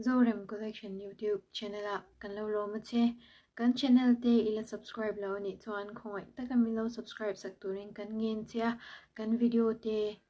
Zorem Collection YouTube Channel ah kan lo lawm a che. Kan channel te ila subscribe lo anih chuan khawngaih taka min lo subscribe sak turin kan ngen che a. Kan video te.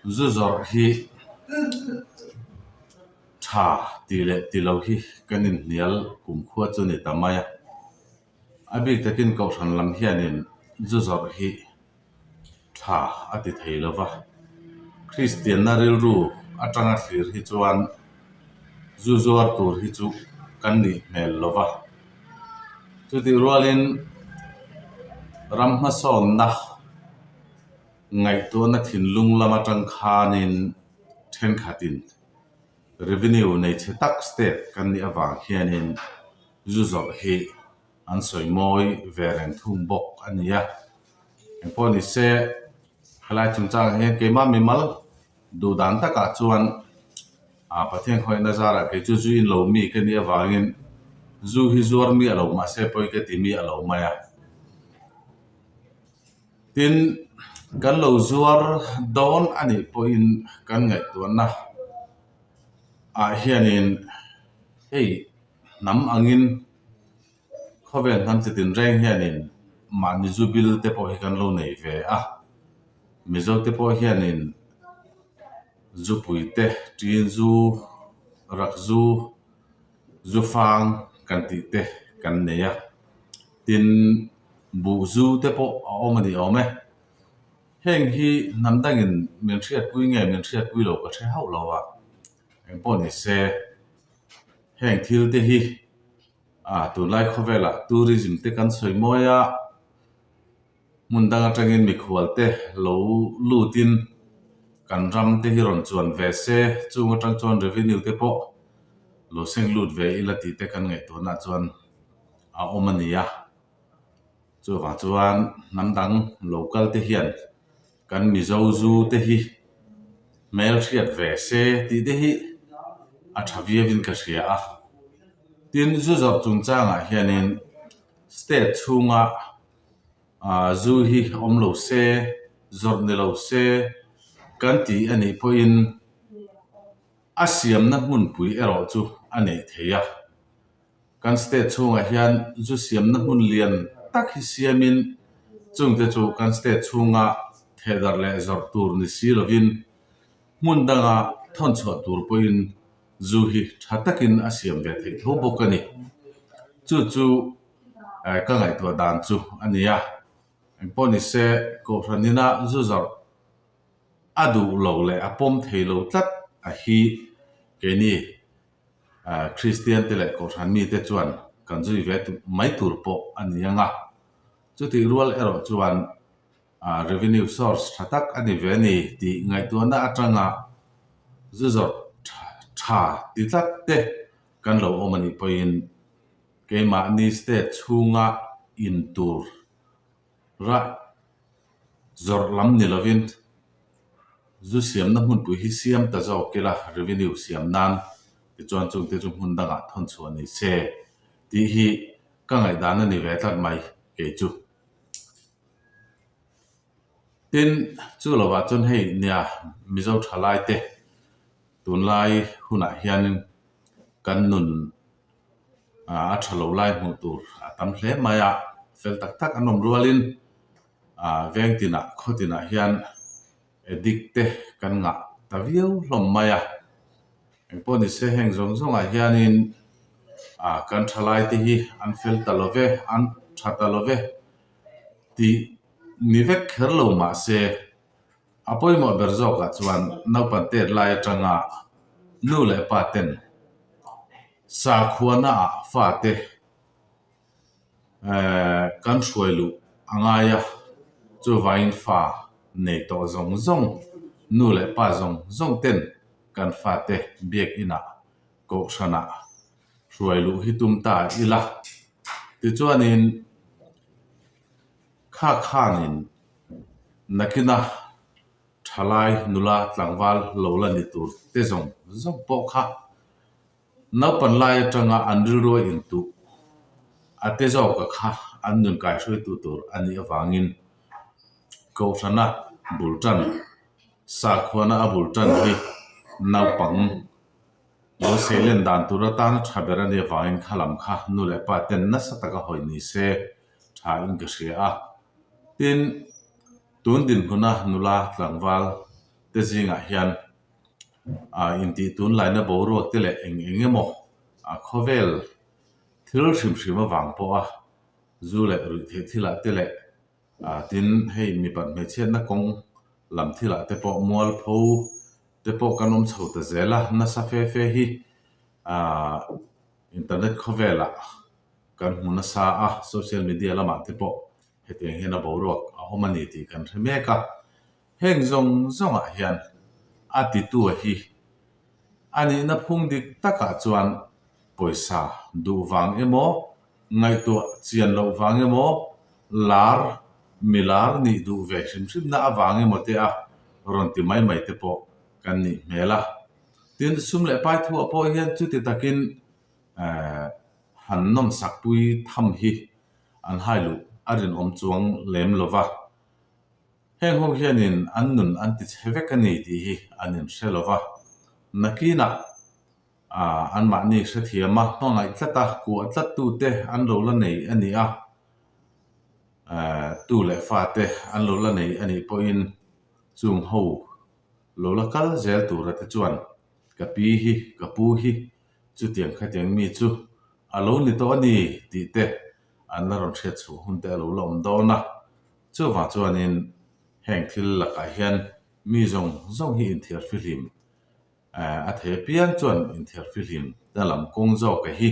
Zu zawrh hi tha tih leh tih lo hi kan inhnial kumkhua chu ni ta mai a. A bik takin Kohhran lam hianin zu zawrh hi tha a ti thei lo va. Kristianna rilru atanga thlir hi chuan zu zuar tur hi chu kan nih hmel lo va. Chutih rualin ram hmasawnna. Ngaihtuahna thinlung lama tangkhanin thenkhatin revenue nei che tak state kan nih avang hianin zu zawrh hi an sawimawi ve reng thung bawk a ni a. Engpawh ni se, helai chungchangah hian keimah mimal duh dan takah chuan Pathian khawihna zarah kei chu zuin lo mi ka nih avangin zu hi zuar mi a lo mahse pawi ka ti mi a lo mai a. Tin, kan lo zuar dawn a nih pawhin kan ngaihtuahna ah hianin hei hnam angin khawvel hnam chi tinreng hianin mahni zu bil te pawh hi kan lo nei ve a. Mizo te pawh hianin zu pui te, ṭin zu, rak zu, zu fang kan tih te kan nei a. tin buh zu te pawh a awm a ni awm e heng hi hnam dang in min hriatpui nge min hriatpui lo ka hre hauh lo a eng pawh ni se heng thil te hi a tunlai khawvel ah tourism te kan sawi mawi a. Hmun dang atangin mikhual te lo lut in kan ram te hi rawn chuan ve se, chung atang chuan revenue te pawh lo seng lut ve ila tih te kan ngaihtuahna chuan a awm a ni a. Chuvang chuan hnam dang local te hian kan Mizo Zu te hi hmel hriat ve se tih te hi a tha viau in ka hria a. Tin zu zawrh chung chang ah hian in state chhung a, Zu hi a awm lo se, zawrh ni lo se kan ti a nih pawhin a siamna hmunpui erawh chu a nei thei a. Kan state chhungah hian zu siamna hmun lian tak hi siamin chung te chu kan state chhunga thehdar leh zawrh tur ni si lovin hmun danga thawn chhuah tur pawhin zu hi tha takin a siam ve thei tho bawk a ni. Chu chu. ka ngaihtuah dan chu a ni a, engpawh ni se Kohhranina zu zarh a duh lo leh a pawm thei lo tlat a hi keini Kristian te leh Kohhran mi te chuan kan zui ve mai tur pawh a ni ang a, chutih rual erawh chuan revenue source tha tak a ni ve ni tih ngaihtuahna atanga zu zawrh tha ti tlat te kan lo awm a nih pawhin, Keimahni state chhunga in tur ra zawrh lam ni lovin zu siamna hmunpui hi siam ta zawk ila revenue siam nan tichuan chute chu hmun dangah thawn chhuah ni se tih hi ka ngaihdan a ni ve tlat mai kei chu. Tin, chu lo ah chuan hei nia Mizo tha lai te tun lai hun ah hian in kan nun a tha lo lai hmuh tur a tam hle mai a, fel tak tak an awm rual in ah veng tin ah khaw tin ah hian addict te kan ngah ta viau hlawm mai a. Eng pawh ni se heng zawng zawng ah hian in ah kan tha lai te hi an fel ta lo ve, an tha ta lo ve tih. Ni vek kher lo mah se, a pawimawh ber zawkah chuan naupang tet lai atanga nu leh pa ten sakhuana ah fate kan hruai luh a ngai a, chuvangin fa nei tawh zawng zawng, nu leh pa zawng zawng ten kan fate biakin ah kohhran ah hruai luh hi tum ta ila. Tichuanin. Khah khan in nakin a thalai nula tlangval lo la ni tur te zawng zawng pawh kha naupan lai atanga an rilruai in tuh a te zawk a kha an nun kaihruaitu tur a nih avangin Kohrana bul tan, Sakhuana a bul tan hi naupang Lawsei len dan tur atana tha ber a nih avangin khalam kha nu leh pa ten nasa taka hawi ni se. thain ka hria a. Tin, tun dinhmuna nula tlangval te zingah hian intih tun laina boruak te leh eng eng emaw khawvel thil hrim hrim avang pawha zu leh ruih theih thilah te leh tin, hei mipat hmeichhiatna kawng lam thilah te pawh mual pho te pawh kan awm chho ta zel a. Nasa fe fe hi. Internet khawvelah kan hmu nasa a, social media lamah te pawh hetiang hian a boruak a awm a ni tih kan hre mek a. Heng zawng zawngah hian a titua hi a nihna phung dik takah chuan pawisa duh vang emaw, ngaihtuah chian loh vang emaw, lar, mi lar nih duh ve hrim hrimna avang emaw te a rawn ti mai mai te pawh kan nih hmel a. Tin, sum leh pai thu-ah pawh hian chuti takin han nawm sakpui tham hi an hailuh a rinawm chuang lem lo va, heng ho hianin an nun an ti chhe vek a ni tih hi an inhre lo va. Nakinah anmahni hrethiama hmangaih tlata kuah tlattute an lo la nei a ni a, tu leh fate an lo la nei a nih pawhin chung ho, Lo la kal zel tura te chuan ka pi hi ka pu hi chutiang khatiang mi chu a lo ni tawh a ni tih te an la rawn hriat chhuah hun te a lo la awm dawn a. Chuvang chuanin heng thil lakah hian mi zawng zawng hi inthiarhfi hlim eh a thei apiang chuan inthiarhfi hlim na lam kawng zawk a hi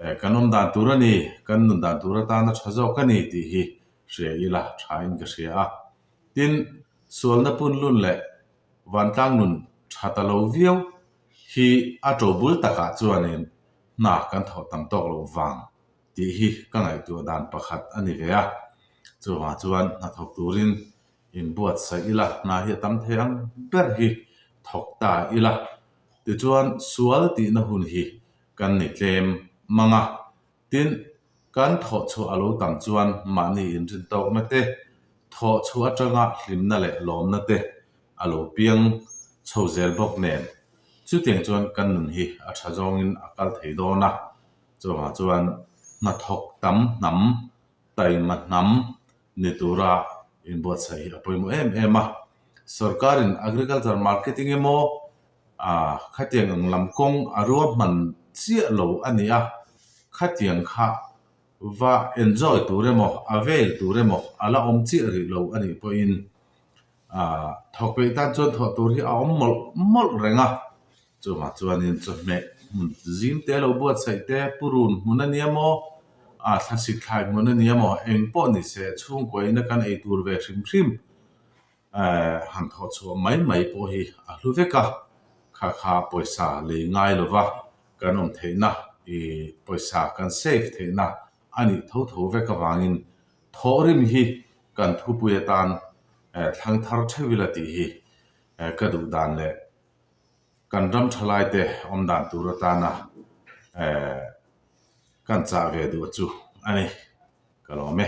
eh kan awm dan tur a ni, kan nun dan tur atana tha zawk a ni tih hi hria ila thain ka hria a. Tin, sualna punlun leh vantlang nun tha ta lo viau hi a to bul takah chuanin hna kan thawh tam tawk lo vang tih hi ka ngaihtuah dan pakhat a ni ve a. Chuvang chuan hna thawk turin inbuatsaih ila, hna hi a tam thei ang ber hi thawk ta ila. Tichuan, sual tihna hun hi kan ni tlem mang a. Tin, kan thawhchhuah a lo tam chuan mahni inrintaukna te, thawhchhuah atanga hlimna leh lawmna te a lo piang chho zel bawk nen, chutiang chuan kan nun hi a tha zawngin a kal thei dawn a. Chuvanga chuan hnathawk tam hnam, taima hnam ni tura inbuatsaih hi a pawimawh em em a. Sorkarin agriculture marketing emaw, Aa, khatiang ang lam kawng a rua hman chiah lo a ni a, khatiang kha va enjoy tur emaw a vel tur emaw a la awm chiah rih lo a nih pawhin aa, thawkpeih tan chuan thawh tur hi a awm mawlh mawlh reng a. Chungah chuanin chawhmeh hmun zing te lo buatsaih te, purun hmun a nia maw, aa, thla sitthlai hmun a nia maw, eng pawh ni se chhungkuaina kan ei tur ve hrim hrim. Han khaw chhuah mai mai pawh hi a hlu vek a, kha kha pawisa lei ngai lova kan awm theihna ih pawisa kan save theihna a nih tho tho vek avangin thawh rim hi kan thupui atan thlang thar theuh ila tih hi ka duh dan leh kan ram tha laite awm dan tur atana kan chah ve duh chu a ni ka lawm e.